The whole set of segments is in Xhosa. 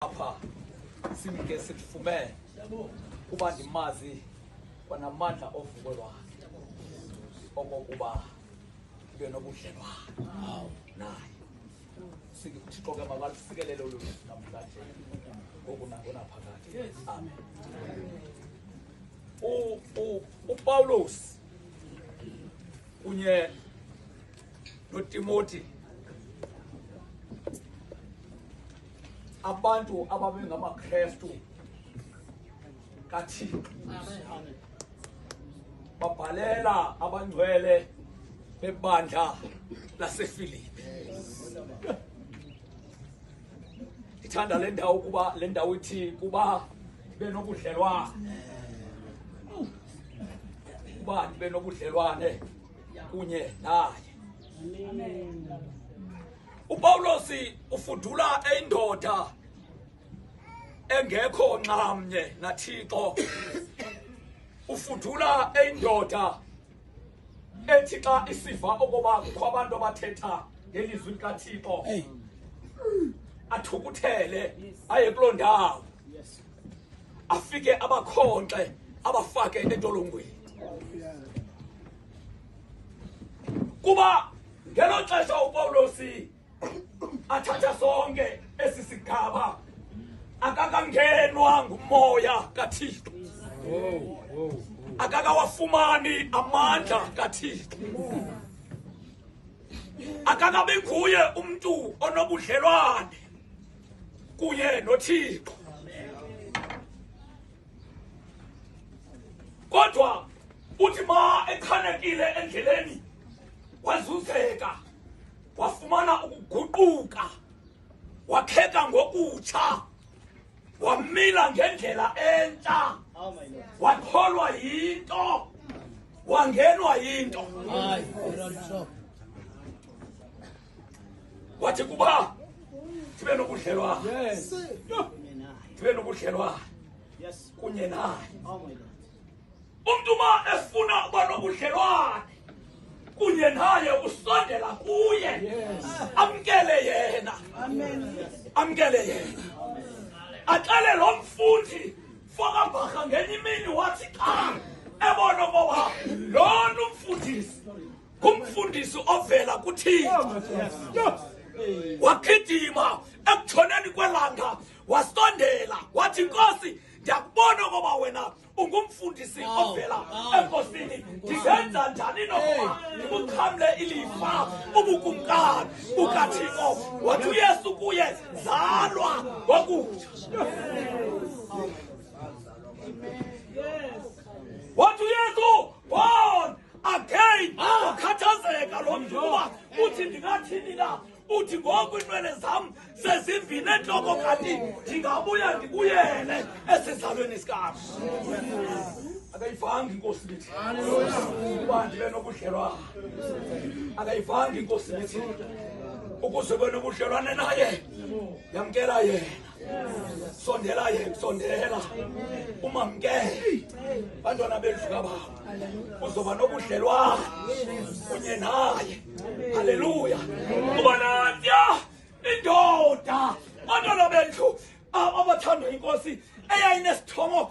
apha simke simfumele kuba ndimazi kwanamandla ovuko lwakhe okokuba ndibe nobudlelwane naye sikuthixo ke mabalusikelele olu namhlanje ngoku nangona phakathi amen upawulos kunye notimoti abantu ababengamakrestu kathixo babhalela abangcwele bebandla lasefilipi ndithanda le ndawo kuba le ndawo ithi kuba ndibe nobudlelwane kuba ndibe nobudlelwane kunye naye upawulos ufudula indoda engekho nxamnye nathixo ufudula indoda ethi xa isiva okoba kukho abantu abathetha ngelizwi likathixo athukuthele aye kuloo ndawo afike abakhonxe abafake entolongweni kuba ngelo xesha upawulosi athatha sonke esi sigaba akakangenwa ngumoya kathixo akakawafumani amandla kathixo akakabi nguye umntu onobudlelwane kunye nothixo kodwa uthi ma echanekile endleleni wazuzeka wafumana ukuguquka wakheka ngokutsha wamila ngendlela entsha wakholwa yinto wangenwa yinto wathi kuba sibe nobudlelwane sibe nobudlelwane kunye naye umntu uma efuna uba nobudlelwane kunye naye usondela kuye amkele yena amkele yena axele lo mfundi fokambharha ngenye imini wathi xa ebona okoba lona umfundisi ngumfundisi ovela kuthixo wagidima ekutshoneni kwelanga wasondela wathi nkosi ndiyakubona ngoba wena ungumfundisi ovela enkosini ndingenza njani nokuba ndikuxhamle ilifa ubukumkani bukathixo wathi uyesu kuye zalwa ngokutsha wathi uyesu again ah. ukhathazeka lo mntu uba uthi ndingathini na uthi ngoku inwele zam sezimvini entloko kanti ndingabuya ndibuyele esizalweni sikam akayivanga inkosi lithi uba ndibe nobudlelwana akayivanga inkosi lithi ukuze kwenobudlelwane naye yamkela yena sondela yena sondela umamkele bantwana bendlu kababa uzoba nobudlelwane kunye naye halleluya kuba natya indoda bantwana bendlu abathandwa inkosi eyayinesithomo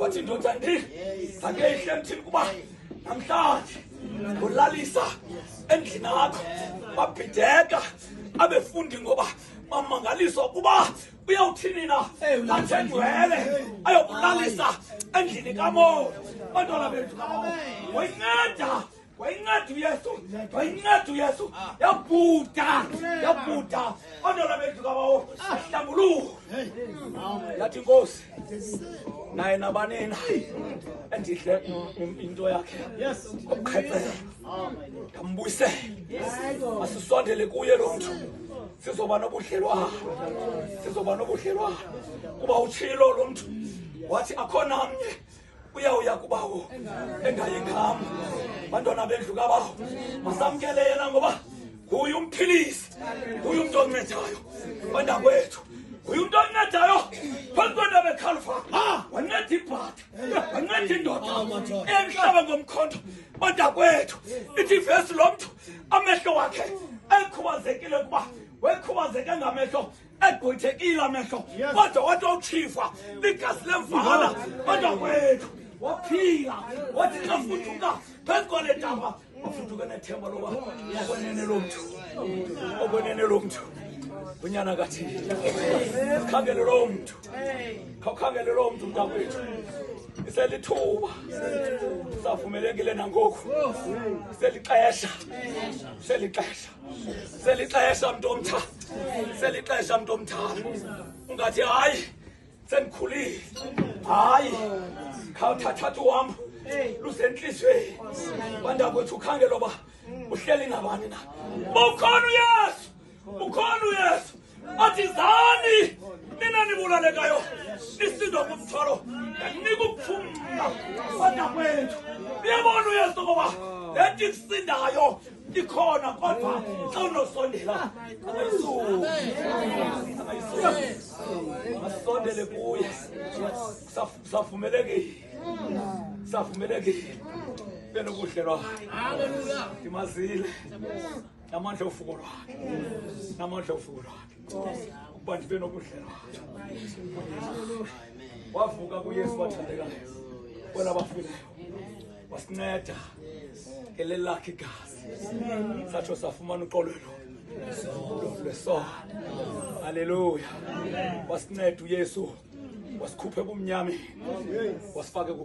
wathi indoda ndini angeyihle emthini kuba namhlanje ngolalisa endlini akho babhideka abefundi ngoba bamangaliswa ukuba uyawuthini na athenjwele ayokulalisa endlini kamoya bantwana bethu kamoya wayinceda wayinceda uyesu wayinceda uyesu yabhuda yabhuda onola bethu kabawo ahlambuluko yathi inkosi naye nabanina endidle into yakhe okukhethela ndambuyisele asisondele kuye lo mntu sizoba nobudlelwana sizoba nobudlelwana kuba utshilo lo mntu wathi akho namnye uyawuya kubawo engayingama bantwana bendlu kabawo masamkele yena ngoba nguye umphilisi nguye umntu oncedayo bandakwethu nguye umntu oncedayo phambi kwento bekhalfa wanceda ibhatha wanceda indoda emhlaba ngomkhondo bandakwethu ithi ivesi lo mntu amehlo wakhe ekhubazekile kuba wekhubazeke ngamehlo egqwethekile amehlo kodwa wathi wawutshifwa ligazi lemvala kodwa kwethu waphila wathi xa fuduka phezu kwale ntaba wafuduka nethemba loba okwenene lo mntu okwenene lo mntu unyana kathini khangele loo mntu khawukhangele loo mntu mntakwethu iselithuba savumelekile nangoku selixesha selixesha selixesha mntu omtha selixesha mntu omthana ungathi hayi sendikhulile hayi khawuthathatha uhambo lusentliziyweni bandakwethu ukhangela uba uhleli nabani na ukhona uyesu ukhona uyesu athi zani nina nibulalekayo nisindwa ngumthwalo ndinika ukuphumla kwanda kwethu uyabona uyesu ngoba le nto ikusindayo ikhona kodwa xa unosondela asondele kuye savumelekile savumelekile benobudlelwane ndimazile namandla ofuko lwakhe namandla ofuko lwakhe ukuba ndibe nobudlelwane wavuka kuyesu wathandekayo bona bafileyo wasinceda ngeleli lakhe igazi satsho safumana uqolwelo lwesono halleluya wasinceda uyesu wasikhuphe kumnyameni wasifake